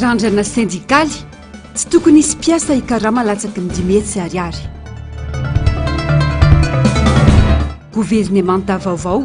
Randrana sendikaly, tsy tokony hisy mpiasa hikarama latsaky ny dimy hetsy ariary. Governemanta vaovao.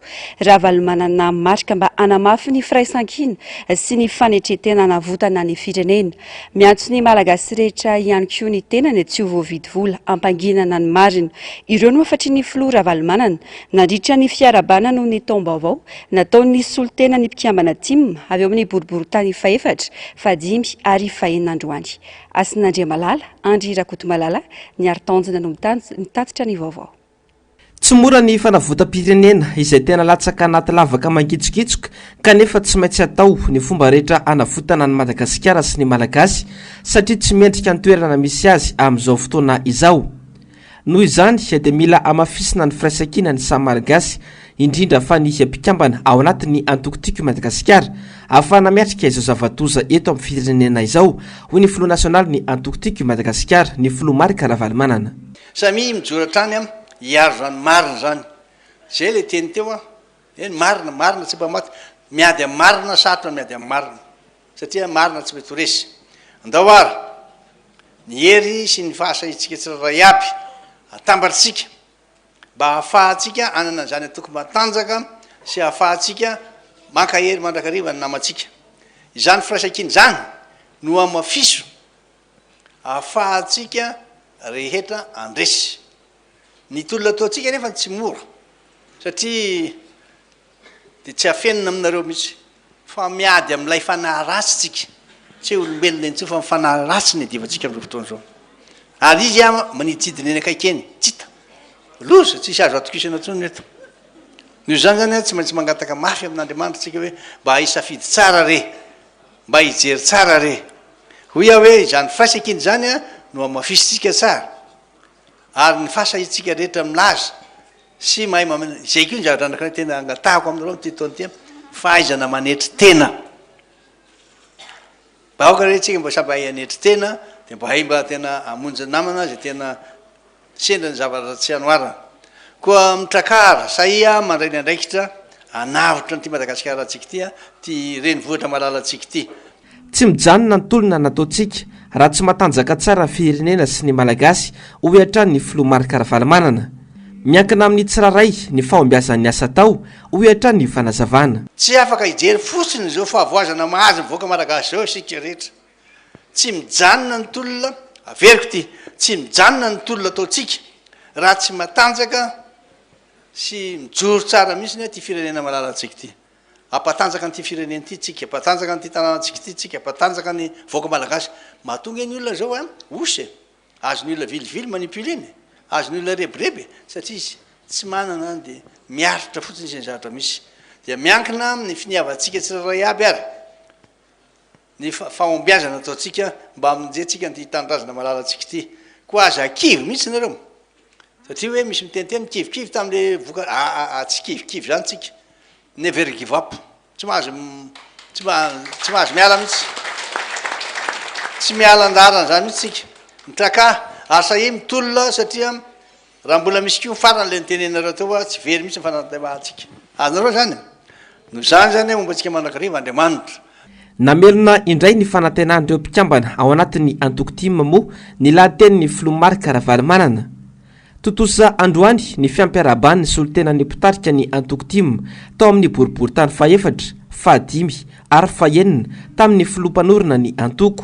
Ravalomanana marika mba hanamafy ny firaisankina sy ny fanetren-tena hanavotana ny firenena. Miantso ny Malagasy rehetra ihany koa ny tenany tsy ho voavidy vola hampanginana ny marina. Ireo no hafatrin'ny filoha Ravalomanana nandritra ny fiarahabana noho ny taom-baovao nataon'ny solontenan'ny mpikambana Tim avy ao amin'ny boriborintany fahefatra, fahadimy ary fahenina androany. Hasin'Andriamalala, Andry Rakotomalala, Ny Haritanjona no mitatitra ny vaovao. Tsy mora ny fanavotam-pirenena izay tena latsaka anaty lavaka mangitsokitsoka kanefa tsy maintsy atao ny fomba rehetra hanavotana an'i Madagasikara sy ny Malagasy satria tsy mendrika ny toerana misy azy amin'izao fotoana izao. Noho izany dia mila hamafisina ny firaisankina ny samy Malagasy indrindra fa ny mpikambana ao anatin'ny antoko Tiako i Madagasikara ahafahana miatrika izao zava-doza eto amin'ny firenena izao hoy ny filoha nasionalin'ny antoko Tiako i Madagasikara ny filoha Marc Ravalomanana. Samia mijoro hatrany an, hiaro zany marina zany, zay le teny teo an, eny marina, marina tsy mpamaky, miady am marina, sarotra ny miady am marina, satria marina tsy mety ho resy, andao ary ny hery sy ny fahasahiantsika tsirairay aby atambatritsika mba hahafahantsika anana izany antoko matanjaka sy hahafahantsika mankahery mandrakariva ny namantsika, izany firaisankina izany no hamafiso ahafahantsika rehetra andresy. Ny tolona ataontsika anefa no tsy mora, satria dia tsy afenina aminareo mihitsy, fa miady amin'ilay fanahy ratsy tsika, tsy olombelona intsony fa ny fanahy ratsy no iadivantsika amin'izao fotoana izao. Ary izy ama maniditsidina eny akaiky eny, tsy hita. Loza, tsisy azo atokisana intsony ny eto. Noho izany izany an, tsy maintsy mangataka mafy amin'Andriamanitra tsika hoe mba hisafiditsara re. Mba hijery tsara re. Hoy aho hoe izany fasa ekena izany no hamafisintsika tsara. Ary ny fasa isika rehetra milaza sy mahay mamin, izay koa ny zavatra anankiray tena angatahako aminareo amin'ity taona ity an, fahaizana manetry tena. Mba aoka re isika mba samy hahay hanetry tena dia mba hay mba tena hamonjy namana izay tena. Sendra ny zavatra tsy anoarana. Koa mitrakara, sahia mandray ny andraikitra hanavotra an'ity Madagasikarantsika ity, ity renivohitra malalantsika ity. Tsy mijanona ny tolona nataontsika raha tsy matanjaka tsara ny firenena sy ny Malagasy, hoy hatrany ny filoha Marc Ravalomanana. Miankina amin'ny tsirairay ny fahombiazan'ny asa atao, hoy hatrany ny fanazavana. Tsy afaka hijery fotsiny izao fahavoazana mahazo ny vahoaka Malagasy izao isika rehetra. Tsy mijanona ny tolona, averiko ity, tsy mijanona ny tolona ataontsika raha tsy matanjaka sy mijoro tsara mihitsy ity firenena malalantsika ity. Hampatanjaka an'ity firenena ity tsika, hampatanjaka an'ity tanànantsika ity tsika, hampatanjaka ny vahoaka malagasy. Mahatonga iny olona zao an, osy e, azon'ny olona vilivily manipuler iny e, azon'ny olona rebireby e, satria izy tsy manana an dia miaritra fotsiny izay zavatra misy. Dia miankina amin'ny finiavantsika tsirairay aby ary. ny fahombiazana ataontsika mba hamonjentsika an'ity tanindrazana malalantsika ity. Koa aza kivy mihitsy ianareo. Satria hoe misy miteniteny nikivikivy tamin'ilay vokatra. Aa, tsy kivikivy izany tsika. Never give up. Tsy mahazo, tsy mahazo miala mihitsy. Tsy miala andaharana izany mihitsy tsika. Mitraka, asa i mitolona satria. Raha mbola misy koa ny farany ilay nitenenareo teo fa tsy very mihitsy ny fanatantevahantsika anareo izany e! Noho izany izany hoe momba antsika mandrakariva Andriamanitra. Namelona indray ny fanantenan'ireo mpikambana ao anatin'ny antoko tim moa ny lahatenin'ny filoha Marc Ravalomanana. Tontosa androany ny fiampiarahaban'ny solontenan'ny mpitarika ny antoko tim tao amin'ny boriborintany fahefatra, fahadimy ary fahenina tamin'ny filoha mpanorina ny antoko.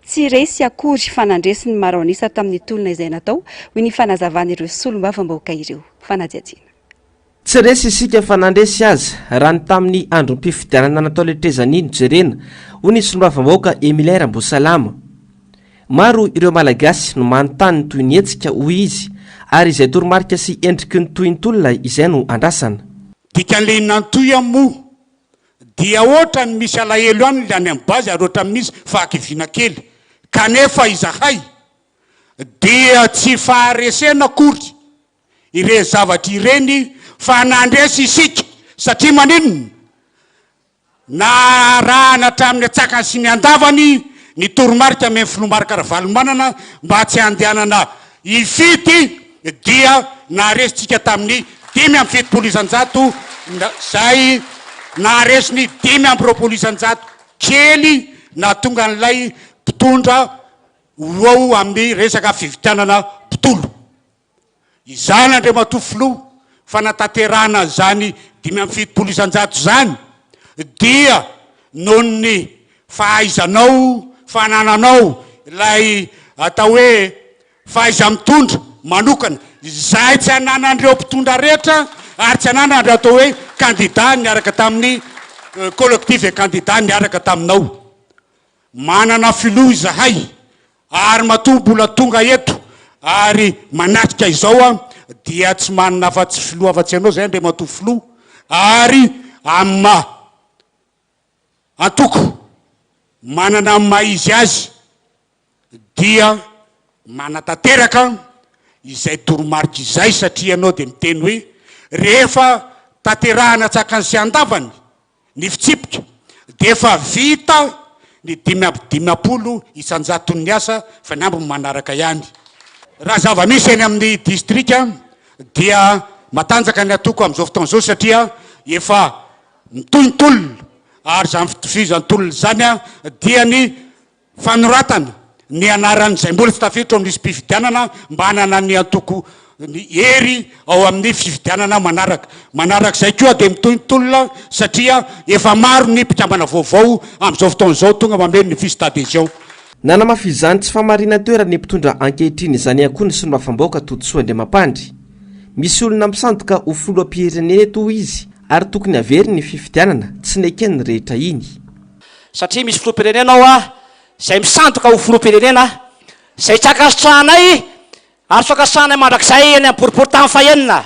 Tsy resy akory fa nandresy ny maro an'isa tamin'ny tolona izay natao, hoy ny fanazavan'ireo solombavambahoaka ireo. Fanadihadiana. Tsy resy isika fa nandresy aza, raha ny tamin'ny androm-pifidianana natao letrezani no jerena, hoy ny solombavambahoaka Emilien Ramboasalama. Maro ireo Malagasy no manontany ny tohin'ny hetsika, hoy izy, ary izay toromarika sy endriky ny tohintolona izay no andrasana. Dikan'ilay inona ny tohiny moa? Dia otrany misy alahelo any le any am base ary otrany misy fahakiviana kely kanefa izahay dia tsy faharesena akory ireny zavatra ireny fa nandresy isika satria maninona? Narahana hatramin'ny antsakany sy ny andavany ny toromarika amy ny Filoha Marc Ravalomanana mba tsy handehanana hifidy dia naharesintsika tamin'ny dimy amby fitopolo isan-jato izay naharesiny dimy amby roapolo isan-jato kely nahatonga an'ilay mpitondra ho eo amin'ny resaka fividianana mpitolo. Izany Andriamatoa Filoha fanatanterahana izany dimy amby fitopolo isan-jato izany dia noho ny fahaizanao, fanananao ilay atao hoe Fahaiza mitondra manokana izay tsy ananan'ireo mpitondra rehetra ary tsy ananan'ireo atao hoe kandida niaraka tamin'ny collectif des candidats niaraka taminao. Manana filoha izahay ary matoa mbola tonga eto ary manatrika izao aho dia tsy manana afa-tsy filoha afa-tsy ianao izay Andriamatoa Filoha ary amin'ny maha. Antoko manana ny maha izy azy dia manatanteraka izay toromarika izay satria ianao dia miteny hoe rehefa tanterahina tsakany sy andavany ny fitsipika dia efa vita ny dimy amby dimampolo isan-jaton'ny asa fa ny ambiny manaraka ihany. Raha zava-misy eny amin'ny distrika dia matanjaka ny antoko amin'izao fotoana izao satria efa ny tontolona ary izany fitovizan'ny tolona izany dia ny fanoratana ny anaran'izay mbola tsy tafiditra ao amin'ny lisi-pifidianana mba hanana ny antoko ny hery ao amin'ny fifidianana manaraka. Manaraka izay koa dia mitohy ny tolona satria efa maro ny mpikambana vaovao amin'izao fotoana izao tonga mameno ny fiches d'adhesion. Nanamafy izany tsy fahamarinan-toeran' ny mpitondra ankehitriny izany ihany koa ny solombavambahoaka Todisoa Andriamampandry. Misy olona misandoka ho filoham-pirenena eto hoy izy Ary tokony haveriny ny fifidianana, tsy neken'ny rehetra iny. Satria misy filoham-pirenena ao izay misandoka ho filoham-pirenena, izay tsy ankasitrahanay ary tsy ho ankasitrahanay mandrakizay eny amin'ny boriboritany fahenina.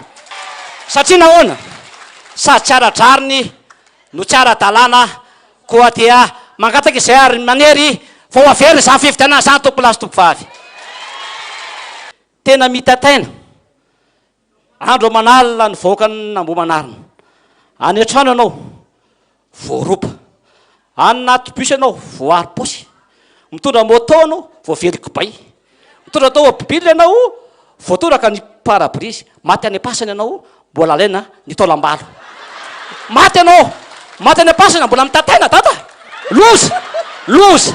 Satria nahoana? Sady tsy ara-drariny no tsy ara-dalàna, koa dia mangataka izay ary manery fa ho averina izany fifidianana izany, Tompo lahy sy Tompo vavy. Tena mitaitaina. Andro aman'alina nivoaka an'Ambohimanarina. Any an-trano ianao, voaroba. Any anaty bus ianao, voaaro paosy. Mitondra moto ianao, voavely kibay. Mitondra tômôbily ianao, voatoraka ny pare-brise. Maty any am-pasana ianao, mbola alaina ny taolam-balo. Maty ianao, maty any am-pasana, mbola mitataina dada. Loza, loza.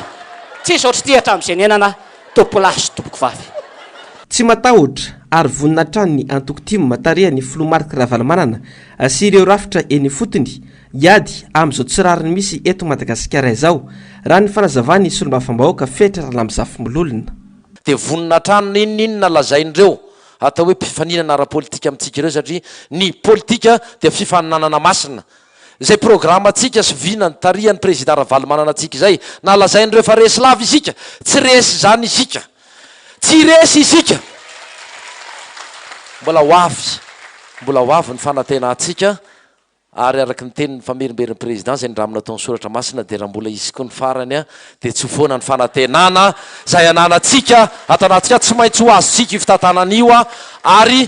Tsisy ohatr'ity hatramin'izay niainana. Tompoko lahy sy tompoko vavy. Tsy matahotra ary vonona hatrany ny antoko tim tarihan'ny filoha Marc Ravalomanana sy ireo rafitra eny ifotony hiady amin'izao tsy rariny misy eto Madagasikara izao, raha ny fanazavan'ny solombavambahoaka Fetry Ralamizafy Mololona. Dia vonona hatrany na inon'inona lazain'ireo atao hoe mpifaninana ara-politika amintsika ireo satria ny politika dia fifaninanana masina Izay programantsika sy vinany tarihan'ny Prezida Ravalomanana antsika izay, na lazain'ireo fa resy lava isika, tsy resy izany isika. Tsy resy isika. Mbola ho avy. Mbola ho avy ny fanantenantsika ary araka ny tenin'ny Famerimberin'ny Prezida izay nindramina tao an-tSoratra Masina dia raha mbola hisy koa ny farany dia tsy ho foana ny fanantenana izay ananantsika ato anatintsika. Tsy maintsy ho azontsika io fitantanana io ary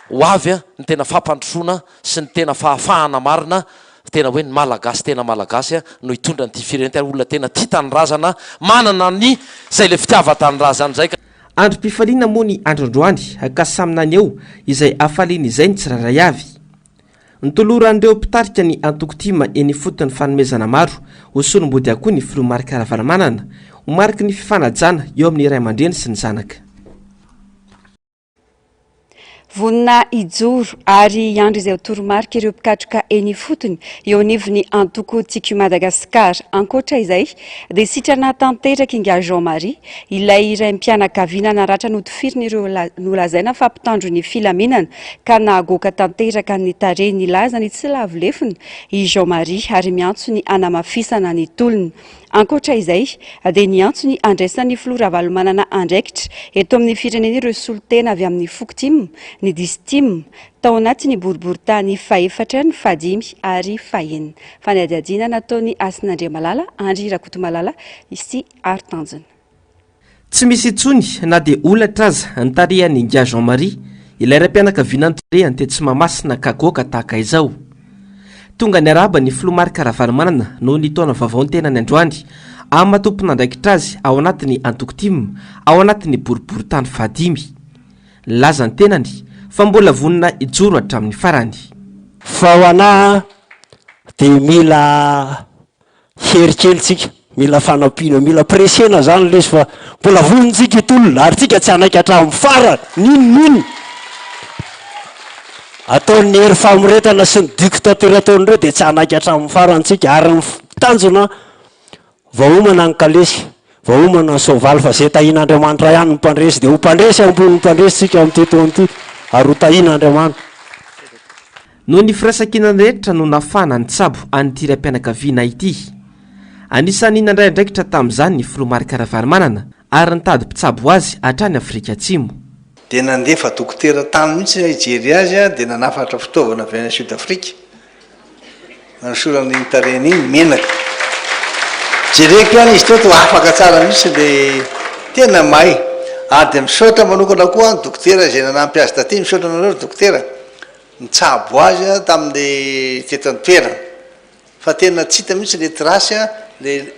ho avy ny tena fampandrosoana. sy ny tena fahafahana marina tena hoe ny malagasy tena malagasy no hitondra an'ity firenena ary olona tena tia tanindrazana manana ny izay ilay fitiavan-tanindrazany izay ka. Androm-pifaliana moa ny andro androany ka samy naneho izay hafaliany izay ny tsirairay avy. Nitoloran'ireo mpitarika ny antoko tim eny ifotony fanomezana maro ho solombodiakoho ny filoha Marc Ravalomanana ho mariky ny fifanajana eo amin'ny ray aman-dreny sy ny zanaka. Vonona hijoro ary hiandry izay ho toromarika ireo mpikatroka eny ifotony eo anivon'ny antoko Tiako Madagascar. Ankoatra izay dia sitrana tanteraka Ingahy Jean Marie, ilay raim-pianakaviana naratra notifirin'ireo nolazaina fa mpitandro ny filaminana ka nahagoaka tanteraka ny tarehiny. Nilaza ny tsy lavo lefona i Jean Marie ary miantso ny hanamafisana ny tolona. Ankoatra izay, dia niantso ny handraisan'ny filoha Ravalomanana andraikitra eto amin'ny firenena ireo solontena avy amin'ny foko tim, ny diso tim, tao anatin'ny boriborintany fahefatra, ny fahadimy ary fahenina. Fanadihadiana nataon'i Hasinandriamalala, Andry Rakotomalala sy Hary Tanjona. Tsy misy intsony na dia holatra aza ny tarihan'i Ingahy Jean Marie, ilay raim-pianakaviana noterehany tetsy Mahamasina ka goaka tahaka izao. Tonga niarahaba ny Filoha Marc Ravalomanana noho ny taona vaovao ny tenany androany, amina tompon'andraikitra azy ao anatin'ny antoko tim ao anatin'ny boriborintany fahadimy. Nilaza ny tenany fa mbola vonona hijoro hatramin'ny farany. Fa ho anah dia mila Hery kely tsika, mila fanampiana, mila presser-na zany lesy fa mbola vonon-tsika itolona ary tsika tsy hanaiky hatramin'ny farany n'inon'inona ataon'i Hery famoretana sy ny dictature ataon'ireo dia tsy hanaiky hatramin'ny farany tsika ary ny tanjona vaomana ny kalesy, vaomana ny soavaly fa zay tahian'Andriamanitra ihany ny mpandresy dia ho mpandresy ambony mpandresy tsika amin'ity taona ity ary ho tahian'Andriamanitra. Noho ny firaisankinany rehetra no nafahana nitsabo an'ity raim-pianakaviana ity. Anisan'ny nandray andraikitra tamin'izany ny Filoha Marc Ravalomanana ary nitady mpitsabo azy hatrany Afrika Atsimo. Dia nandefa dokotera tany mihitsy aho hijery azy dia nanafatra fitaovana avy any Sud Afrika nanosorana iny tarehiny iny, menaka. Jereko ihany izy teto afaka tsara mihitsy dia tena may. Ary dia misaotra manokana koa aho ny dokotera izay nanampy azy taty, misaotra anareo ry dokotera. Nitsabo azy aho tamin'le teto an-toerana fa tena tsy hita mihitsy le trace le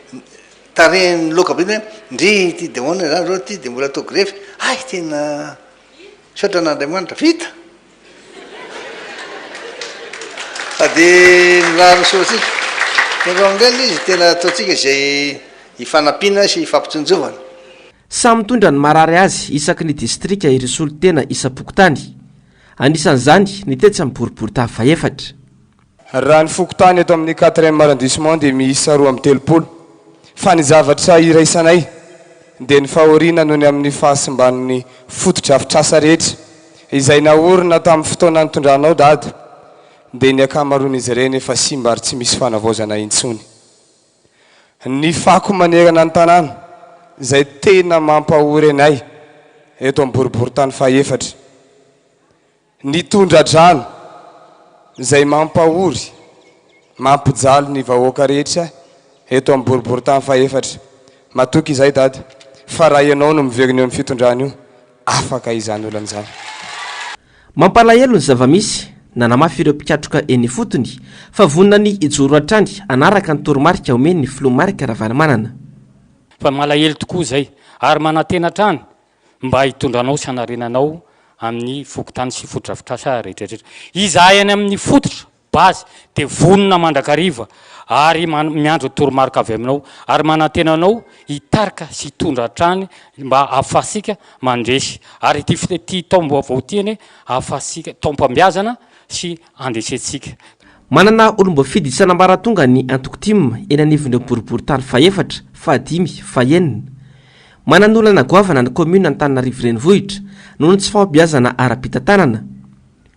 tarehiny loka be le hoe ndry ity de ahoana zany zao ity de mbola atao grefy hay tena misaotra an'Andriamanitra vita fa de mirary soa antsika nareo amin'dray le izy tena ataontsika izay hifanampiana sy hifampitsinjovana. Samy mitondra ny marary azy isaky ny distrika i Risolotena isam-pokontany. Anisan'izany ny tetsy amin'ny boribory taha fahefatra. Raha ny fokontany eto amin'ny quatrième arrondissement dia miisa roa amby telopolo. Fa ny zavatra iraisanay dia ny fahoriana noho ny amin'ny fahasimban'ny fotodrafitrasa rehetra izay naorina tamin'ny fotoana nitondranao dada dia ny ankamaroan'izy ireny efa simba ary tsy misy fanavaozana intsony. Ny fako manerana ny tanàna izay tena mampahory anay eto amin'ny boriborintany fahefatra. Ny tondra-drano izay mampahory, mampijaly ny vahoaka rehetra eto amin'ny boriborintany fahefatra. Matoky izay Dada fa raha ianao no miverina eo amin'ny fitondrana io, afaka izany olana izany. Mampalahelo ny zava-misy, nanamafy ireo mpikatroka eny ifotony fa vonona ny hijoro hatrany hanaraka ny toromarika omen'ny filoha Marc Ravalomanana. Fa malahelo tokoa izay ary manantena hatrany mba hitondra anao sy hanarenanao amin'ny fokontany sy fotodrafitrasa rehetrarehetra. Izahay any amin'ny fototra Base, dia vonona mandrakariva ary miandry ny toromarika avy aminao ary manantena anao hitarika sy hitondra hatrany mba ahafahantsika mandresy ary ity ity taom-baovao ity anie ahafahantsika taom-pambeazana sy handresentsika. Manana olom-boafidy isan'ambaratonga ny antoko tim eny anivon'ireo boriborintany fahefatra, fahadimy, fahenina. Manana olana goavana ny kaominina Antananarivo Renivohitra noho ny tsy fahombiazana ara-pitantanana.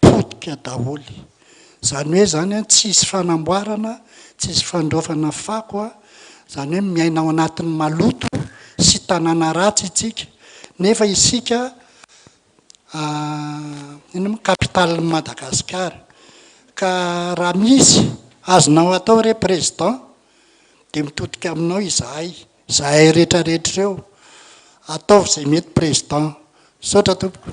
potika daholo. Izany hoe izany an, tsy hisy fanamboarana, tsy hisy fandraofana fako an, izany hoe miaina ao anatin'ny maloto sy tanàna ratsy isika, nefa isika inona moa? Capitale n'i Madagasikara. Ka raha misy azonao atao re Président dia mitodika aminao izahay. Zahay rehetra rehetra ireo. Ataovy izay mety Président. Misaotra tompoko.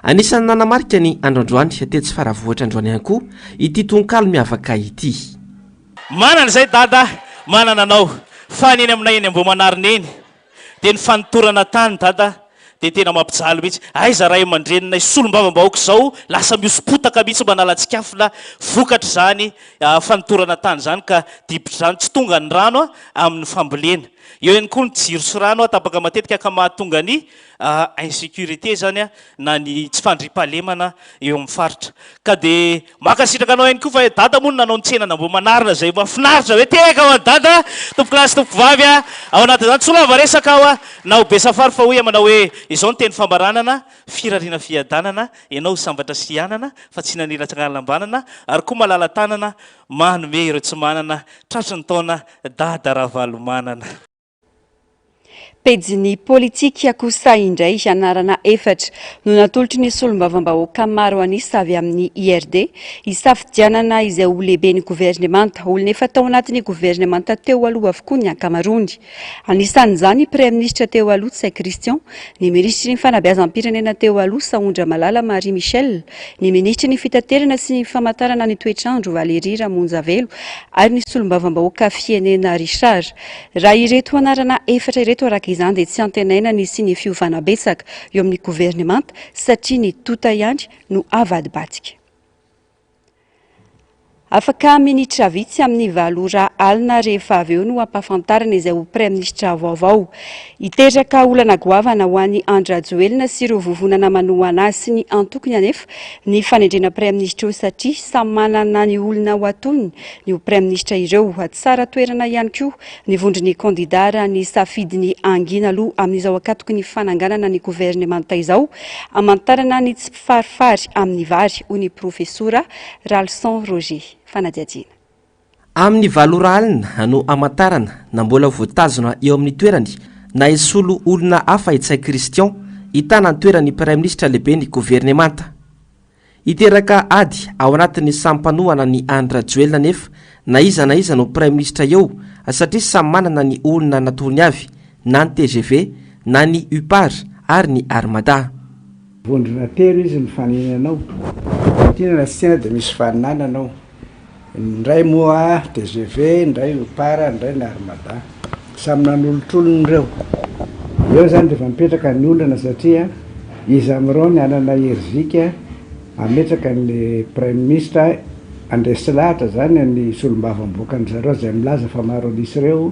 Anisan'ny nanamarika ny andro androany, tetsy Faravohitra androany ihany koa, ity tononkalo miavaka ity. Manana izay Dada a! Manana anao. Fa ny eny aminay eny Ambohimanarina eny dia ny fanotorana tany Dada a! Dia tena mampijaly mihitsy. Aiza ray aman-dreninay solombavambahoaka izao lasa mihoso-potaka mihitsy manalatsikafona vokatr'izany fanotorana tany izany ka dibotr'izany tsy tonga ny rano amin'ny fambolena. Eo ihany koa ny jiro sy rano tapaka matetika ka mahatonga ny insécurité izany na ny tsy fandriampahalemana eo amin'ny faritra. Ka dia Mankasitraka anao ihany koa fa dada moa no nanao ny tsenana Ambohimanarina izay mahafinaritra be tehaka ho an'i dada tompoko lahy sy tompoko vavy a ao anatin'izany tsy lava resaka aho a na ho be safari fa hoy aho manao hoe izao ny teny fambaranana firariana fiadanana ianao ho sambatra sy hianana fa tsy nanila tsagnalambanana ary koa malala tanana manome ireo tsy manana tratry ny taona dada ravalomanana Pejin'ny Politika kosa indray, anarana efatra no natolotry ny Solombavambahoaka maro an'isa avy amin'ny IRD, hisafidianana izay ho lehiben'ny governemanta. Olona efa tao anatin'ny governemanta teo aloha avokoa ny ankamaroany. Anisan'izany i Praiminisitra teo aloha Tsay Christian, ny Minisitry ny Fanabeazam-pirenena teo aloha Sahondramalala Marie Michelle, ny Minisitry ny Fitaterana sy ny Famantarana ny Toetrandro Valérie Ramonjavelo ary ny Solombavambahoaka Fienena Richard. Raha ireto anarana efatra ireto araka izany dia tsy antenaina ny hisian'ny fiovana betsaka eo amin'ny governemanta satria ny tonta ihany no avadibadika. Afaka minitra vitsy amin'ny valo ora alina rehefa avy eo no hampahafantarana izay ho praiminisitra vaovao. Hiteraka olana goavana ho an'i Andry Rajoelina sy ireo vovonana manohana azy sy ny antokony anefa ny fanendrena praiminisitra eo satria samy manana ny olona ho atolony io praiminisitra ireo. Tsara toerana ihany koa ny vondron'ny kandidà raha ny safidy ny hangina aloha amin'izao ankatoky ny fananganana ny governemanta izao, hamantarana ny tsy mpifarifary amin'ny vary, hoy ny profesora Ralison Roger. Fanadihadiana. Amin'ny valo ora alina no hamantarana na mbola voatazona eo amin'ny toerany na hisolo olona hafa i Ntsay Christian hitana ny toeran'ny praiminisitra lehiben'ny governemanta. Hiteraka ady ao anatin'ny samy mpanohana ny Andry Rajoelina anefa na iza na iza no praiminisitra eo satria samy manana ny olona natorony avy na ny tgv na ny UPAR ary ny Armada. Vondrona telo izy mifanena anao. Raha tiana na tsy tiana dia misy faninana anao. Indray moa tgv, indray Oupar, indray Narmada. Samy nanolotr'olony ireo. Eo izany rehefa mipetraka ny olana satria iza amin'ireo no hanana hery zika hametraka ny Praiminisitra handresy lahatra izany ny solombavambahoakan-dry zareo izay milaza fa maro an'isa ireo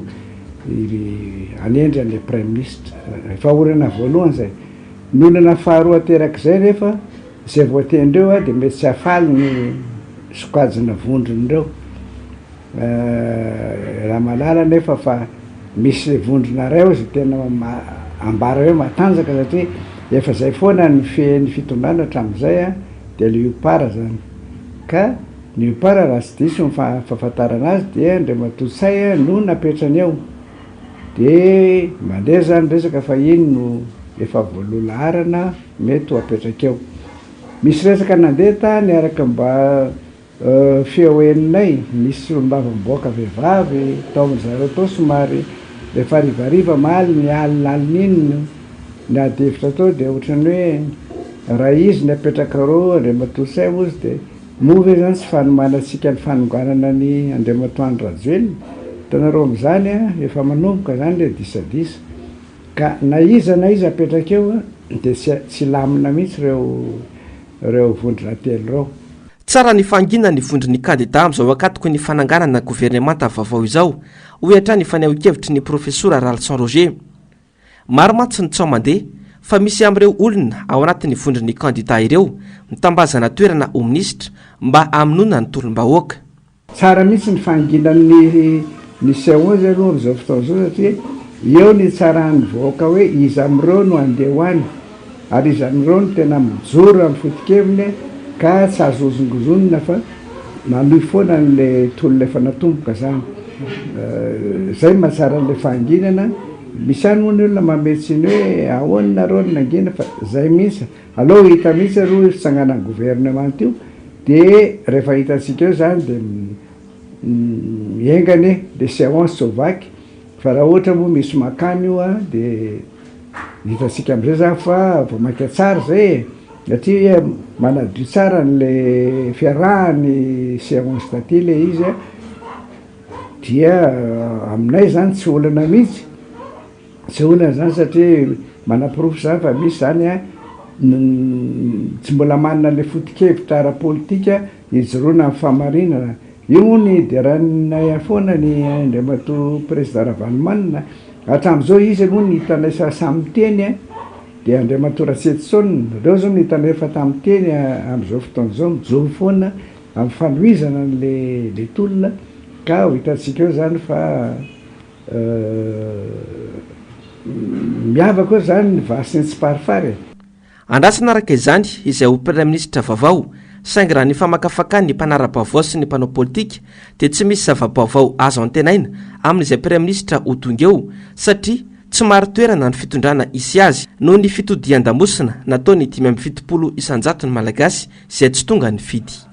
hanendry an'ilay Praiminisitra. Efa olana voalohany izay. Ny olana faharoa aterak'izay rehefa Izay voatendreo dia mety tsy hahafaly ny sokajina vondron'ireo Ramalala anefa fa misy vondrona iray ao izay tena ambara hoe matanjaka satria efa izay foana ny fehen'ny fitondrana hatramin'izay dia ilay UPAR izany ka ny UPAR raha tsy diso ny fahafantarana azy dia Andriamatoa Ntsay no napetrany eo. De mandeha zany resaka fa iny no efa voaloha laharana mety ho apetrakeo. Misy resaka nandeha tany araka mba feo henonay, nisy solombava miboaka vehivavy tao amin-dry zareo tao somary efa harivariva am aliny, alina alina iny no niady hevitra tao de ohatran'ny hoe raha izy ny apetrakareo Andriamatoa Sem ozy de. Moa ve izany tsy fanomanantsika ny fanonganana an' i Andriamatoa Andry Rajoelina? Hitanareo amin'izany an, efa manomboka izany ilay disadisa. Ka na iza na iza apetraka eo dia tsy tsy hilamina mihitsy ireo ireo vondrona telo ireo. Tsara ny fahanginana ny vondron'ny kandidà amin'izao ankatoky ny fananganana governemanta vaovao izao, hoy hatrany ny fanehoan-kevitry ny Profesora Ralison Roger. Maro mantsy ny tsaho mandeha fa misy amin'ireo olona ao anatin'ny vondron'ny kandidà ireo mitambazana toerana ho minisitra mba hamonoana ny tolom-bahoaka. Tsara mihitsy ny fahanginan'ny ny CO zay aloha amin'izao fotoana izao satria eo ny hitsaran'ny vahoaka hoe iza amin'ireo no handeha ho any Ary izany ireo no tena mijoro amin'ny foto-keviny ka tsy azo hozongozonina fa manohy foana an'ilay tolona efa natomboka izany. Izay no mahatsara an'ilay fahanginana. Misy ihany moa ny olona manome tsiny hoe ahoana nareo no nangina fa izay mihitsy. Aleo ho hita mihitsy aloha io fitsanganan'ny governemanta io dia rehefa hitantsika eo izany dia mienga anie ilay seance tsy ho vaky fa raha ohatra moa misy mankany io dia. Hitantsika amizay zany fa vao maika tsara izay e! satria manadio tsara anle fiarahany seance taty ilay izy a! dia aminay zany tsy olana mihitsy, tsy olana izany satria manaporofo izany fa misy izany a tsy mbola manana ilay foto-kevitra ara-politika, Hijoroana amin'ny fahamarinana. Io moa nideranay foana ny Andriamatoa Prezida Ravalomanana. Hatramin'izao izy aloha ny hitanay samy miteny dia Andriamatoa Ratsetoson. Reo zao no hitanay efa tamin'ny miteny amin'izao fotoana izao mijoro foana amin'ny fanohizana an'ilay tolona ka ho hitantsika eo zany fa miavaka eo zany ny vaha sy ny tsiparifary e. Andrasana araka izany izay ho Praiministra vaovao, saingy raha ny famakafakan'ny mpanara-baovao sy ny mpanao politika dia tsy misy zava-baovao azo antenaina amin'izay Praiministra ho tonga eo satria tsy marin-toerana ny fitondrana hisy azy noho ny fitodihan-damosina nataon'ny dimy amby fitopolo isan-jaton'ny Malagasy izay tsy tonga nifidy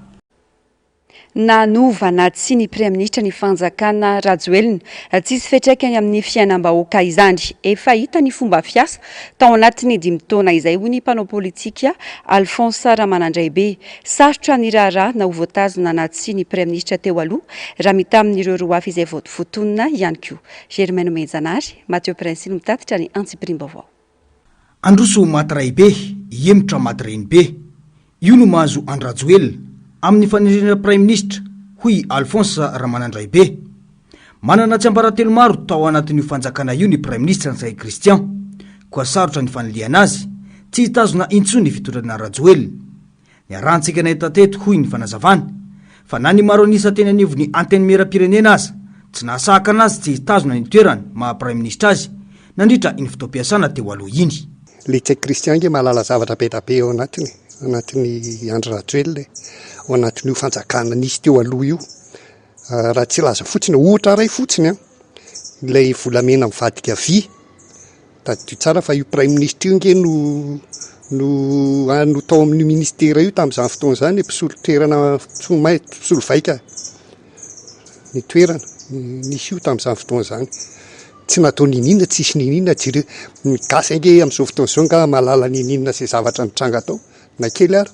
Nanova na tsia ny Praiminisitra ny Fanjakana Rajoelina, tsisy fiantraikany amin'ny fiainam-bahoaka izany. Efa hita ny fomba fiasa tao anatin'ny dimy taona izay, hoy ny mpanao politika Alphonse Ramanandraibe. Sarotra ny raharaha na ho voatazona na tsia ny Praiminisitra teo aloha raha mitaha amin'ireo roa hafa izay voatonona ihany koa. Germain Nomenjanahary, Matthieu Princi no mitatitra ny antsipiriam-baovao. Androso maty raibe, hihemotra maty renibe. Io no mahazo an-dRajoelina, amin'ny fanendrena praiminisitra, hoy i Alphonse Ramanandraibe. Manana tsiambaratelo maro tao anatin'io fanjakana io ny praiminisitra Ntsay Christian. Koa sarotra ny fanilihana azy, tsy hitazona intsony ny fitondrana Rajoelina. Niarahantsika nahita teto, hoy ny fanazavany, fa na ny maro an'isa teny anivon'ny Antenimierampirenena aza tsy nahasahaka anazy tsy hitazona ny toerany maha Praiminisitra azy nandritra iny fotoam-piasana teo aloha iny. Ilay Cheikh Christian ange mahalala zavatra be dia be ao anatiny e, ao anatin'i Andry Rajoelina e, ao anatin'io fanjakana nisy teo aloha io. Raha tsy hilaza fotsiny, ohatra iray fotsiny an, ilay volamena mivadika vy, tadidio tsara fa io praiminisitra io ange no no no tao amin'io ministera io tamin'izany fotoana izany, ilay mpisolo toerana, mpisolo mai- mpisolo vaika ny toerana, nisy io tamin'izany fotoana izany. Tsy natao niniana, tsisy niniana, jereo ny gasy ange amin'izao fotoana izao angaha mahalala niniana izay zavatra nitranga tao, na kely ary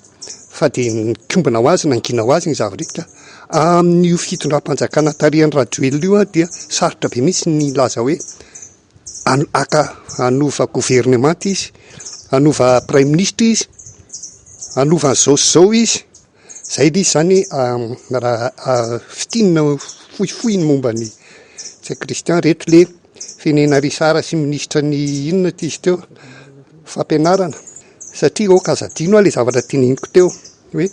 fa dia mikombona ho azy, nangina ho azy ny zava-drehetra. Amin'io fitondram-panjakana tarihan'i Rajoelina io dia sarotra be mihitsy ny hilaza hoe haka, hanova governemanta izy, hanova praiminisitra izy, hanova an'izao sy izao izy. Izay ilay izy izany raha fintinina fohifohy ny momba an'i Ntsay Christian. Ireto ilay firenena Richard sy minisitra ny inona ity izy teo? Fampianarana. Satria ok aza adino aho le zavatra teneniko teo hoe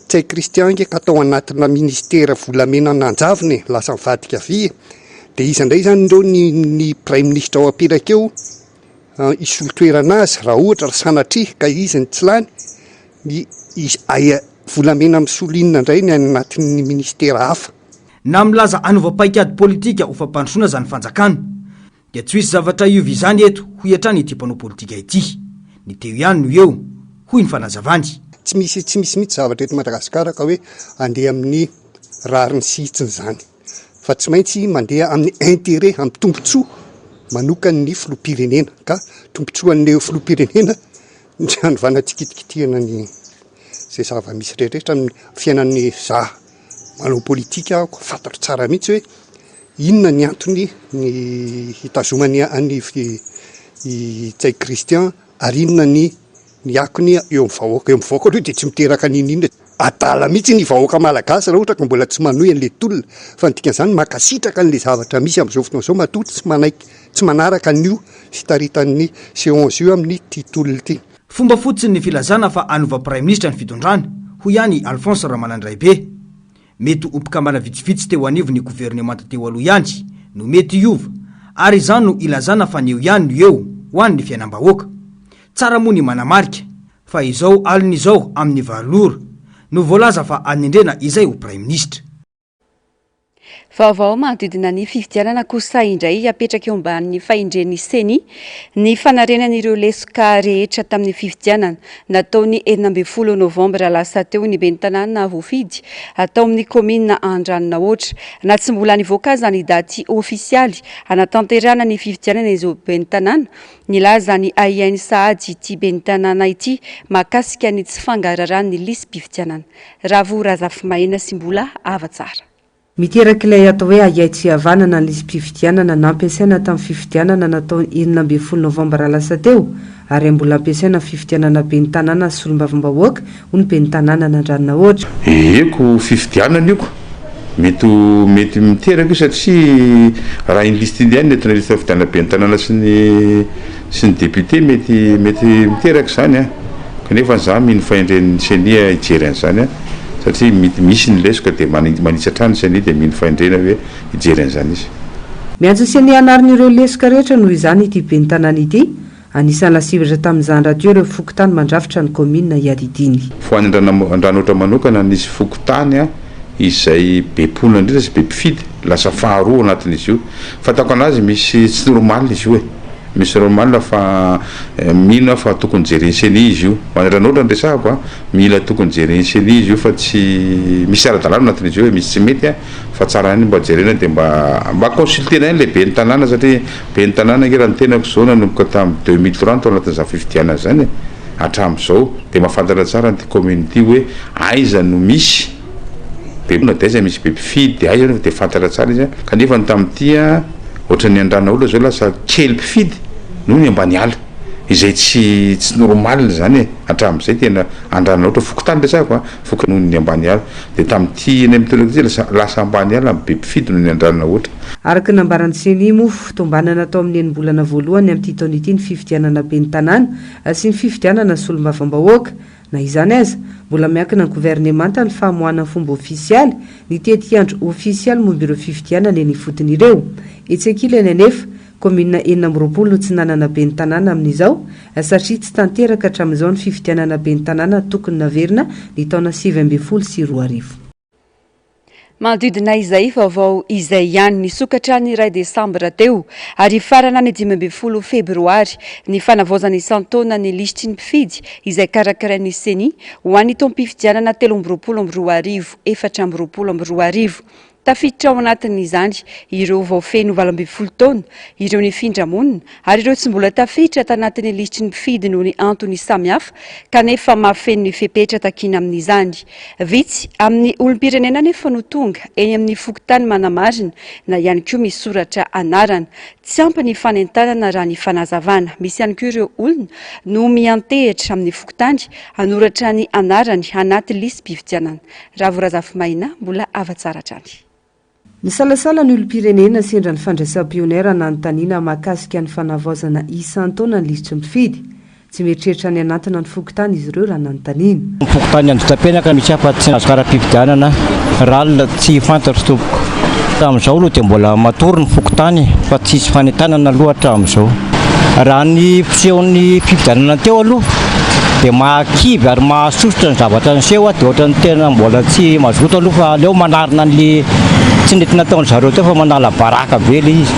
tsy hay Christian nge ka tao anatina ministera volamena nanjavona e, lasa nivadika avy e, de iza ndray zany ndreo ny ny praiminisitra ao apetraka eo hisolo toerana azy raha ohatra raha sanatria ka izy no tsy lany, ny izy aia volamena misolo inona ndray ny any anatin'ny ministera hafa. Na milaza hanovam-paikady politika ho fampandrosoana zany fanjakana, Dia tsy ho hisy zavatra hiova izany eto, hoy hatrany ity mpanao politika ity. Ny teo ihany no eo, hoy ny fanazavany. Tsy misy tsy misy mihitsy zavatra eto Madagasikara ka hoe handeha amin'ny rariny sy hitsiny izany. Fa tsy maintsy mandeha amin'ny intérêt, amin'ny tombontsoa manokan'ny filoham-pirenena. Ka tombontsoan'ny filoham-pirenena ny hanovana tsy kitikitihana ny izay zava-misy rehetra amin'ny fiainan'ny vazaha. Manao politika aho, fantatro tsara mihitsy hoe inona ny antony ny hitazomany an'i Ntsay Christian ary inona ny ny akony eo amin'ny vahoaka. Eo amin'ny vahoaka aloha dia tsy miteraka n'inon'inona. Adala mihitsy ny vahoaka malagasy raha ohatra ka mbola tsy manohy an'ilay tolona. Fa ny dikan'izany, mankasitraka an'ilay zavatra misy amin'izao fotoana izao matoa tsy manaiky, tsy manaraka an'io fitaritan'ny Seance io amin'ity tolona ity. Fomba fotsiny ny filazana fa hanova Praiminisitra ny fitondrana, hoy ihany i Alphonse Ramanandraibe. Mety ho mpikambana vitsivitsy teo anivon'ny governemanta teo aloha ihany no mety hiova, ary izany no ilazana fa ny eo ihany no eo ho an'ny fiainam-bahoaka. Tsara moa ny manamarika fa izao alina izao amin'ny valo ora no voalaza fa hanendrena izay ho Praiminisitra. Vaovao manodidina ny fifidianana kosa indray apetraka eo ambanin'ny fahendren'ny CENI ny fanarenana ireo lesoka rehetra tamin'ny fifidianana nataon'ny enina ambin'ny folo novambra lasa teo ny ben'ny tanàna voafidy atao amin'ny kaominina Andranonahoatra. Na tsy mbola nivoaka aza ny daty ofisialy hanatanterahana ny fifidianana izao ben'ny tanàna, nilaza ny ahiainy sahady ity ben'ny tanàna ity mahakasika ny tsy fangaraharahan'ny lisi-pifidianana Ravo Razafimaina sy mbola ava tsara. Miteraka ilay atao hoe ahiahy tsy hihavanana ny lisi-pifidianana nampiasaina tamin'ny fifidianana natao ny enina ambin'ny folo novambra lasa teo, ary mbola ampiasaina amin'ny fifidianana ben'ny tanàna sy solombavambahoaka, hoy ny ben'ny tanàna an'Andranonahoatra. Heheko fifidianana io. Mety ho mety miteraka io satria raha indrisy tiliana eto ny lista fifidianana ben'ny tanàna sy ny sy ny député mety mety miteraka izany an! kanefa za mino fahendren'ny ceni hijery an'izany an! satria mety misy ny lesoka dia manitsy hatrany ny ceni dia mino fahendrena hoe hijery an'izany izy. Miantso ny ceni hanarina ireo lesoka rehetra noho izany ity ben'ny tanàna ity, anisan'ny lasibatra tamin'izany rahateo ireo fokontany mandrafitra ny kaominina iadidiany. Fohanin dRandranohitra manokana ny fokontany izay be mponina indrindra sy be mpifidy, lasa faharoa ao anatin'izy io, Fantako anazy misy tsy normal izy io e! Misy normal fa mino aho fa tokony jeren'ny ceni izy io. Mandratra anao otrany resahako a! Mila tokony jeren'ny ceni izy io fa tsy misy tsy ara-dalàna ao anatin'izy io e! Misy tsy mety a! Fa tsara ihany mba jerena de mba mba consultena ihany le ben'ny tanàna satria ben'ny tanàna nge raha ny tenako zao nanomboka tamin'ny deux mille trois no tao anatin'izany fifidianana zany e! Hatramin'izao de mahafantatra tsara an'ity commune ity hoe aiza no misy Be na dia aiza misy be mpifidy dia aiza dia fantatra tsara izy an! Kanefa ny tamin'ity an, ohatran'ny Andranaolona izao lasa kely mpifidy noho ny Ambaniala. Izay tsy tsy normal izany e! Hatramin'izay tena Andranaotra, fokontany resahako an, foko noho ny Ambaniala. Dia tamin'ity indray mitondra ity lasa lasa Ambaniala no be mpifidy noho ny Andranaotra. Araka ny nambaran'ny Ceni, moa fitombanana tao amin'ny enim-bolana voalohany amin'ity taona ity ny fifidianana ben'ny tanàna sy ny fifidianana solombavambahoaka. Na izany aza, mbola miankina ny governemanta ny famoahana ny fomba ofisialy ny tetiandro ofisialy momba ireo fifidianana eny ifotony ireo. Etsy ankilany anefa, kaominina enina amby roapolo no tsy nanana ben'ny tanàna amin'izao, satria tsy tanteraka hatramin'izao ny fifidianana ben'ny tanàna tokony naverina ny taona sivy ambin'ny folo sy roa arivo. Manodidina izay vaovao izay ihany nisokatra ny iray desambra teo ary hifarana ny dimy ambin'ny folo febroary ny fanavaozana isan-taona ny lisitry ny mpifidy izay karakarain'ny Ceni ho an'ny taom-pifidianana telo amby roapolo amby roa arivo efatra amby roapolo amby roa arivo. Tafiditra ao anatin'izany ireo vao feno valo ambin'ny folo taona, ireo nifindra monina, ary ireo tsy mbola tafiditra tanatin'ny lisitry ny mpifidy noho ny antony samihafa kanefa mahafeno ny fepetra takiana amin'izany. Vitsy amin'ny olom-pirenena anefa no tonga eny amin'ny fokontany manamarina na ihany koa misoratra anarana. Tsy ampy ny fanentanana raha ny fanazavana. Misy ihany koa ireo olona no miantehitra amin'ny fokontany hanoratra ny anarany anaty lisi-pifidianana. Ravo Razafimaina, mbola hava tsara hatrany. Nisalasala ny olom-pirenena sendra ny fandraisam-pioner nanontaniana mahakasika ny fanavaozana isan-taona ny lisitry ny mpifidy. Tsy mieritreritra ny hanantona ny fokontany izy ireo raha nanontaniana. Ny fokontany Anjitapenaka misy afa-tsy tsy nahazo kara-pifidianana, ral, tsy fantatro tompoko. Hatramin'izao aloha dia mbola matory ny fokontany fa tsy hisy fanentanana aloha hatramin'izao raha ny fisehon'ny fifidianana teo aloha. dia mahakivy ary mahasosotra ny zavatra niseho dia ohatran'ny tena mbola tsy mazoto aloha fa aleo manarina an'le tsy nety nataon-dry zareo teo fa manala baraka be le izy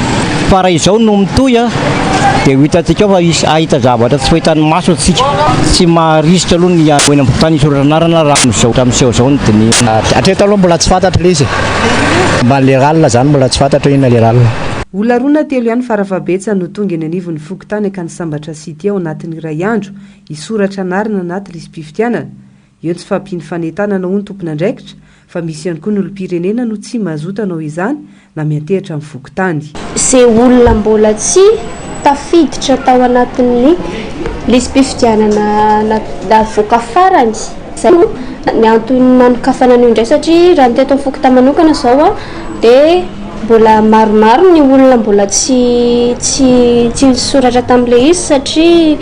fa raha izao no mitohy dia ho hitantsika ao fa hisy hahita zavatra tsy fahitan'ny maso antsika tsy maharisika aloha ny ho eny am-pokontany hisoratra anarana raha amin'izao ohatran'ny miseho izao ny dinihina. Hatreto aloha mbola tsy fantatra le izy e. Mba le rallye zany mbola tsy fantatra hoe inona le rallye. Olona roa na telo ihany fara fahabetsany no tonga eny anivon'ny fokontany ka nisambatra sy. dia ao anatin'ny iray andro hisoratra anarana anaty lisi-pifidianana, eo tsy fahampian'ny fanentanana hoy ny tompon'andraikitra fa misy ihany koa ny olom-pirenena no tsy mazoto hanao izany na miantehatra amin'ny fokontany. Izay olona mbola tsy tafiditra tao anatin'ny lisi-pifidianana navoaka farany, izay no ny antony nanokafana an'io indray satria raha ny teto amin'ny fokontany manokana izao dia. Mbola maromaro ny olona mbola tsy tsy tsy nisoratra tamin'ilay izy satria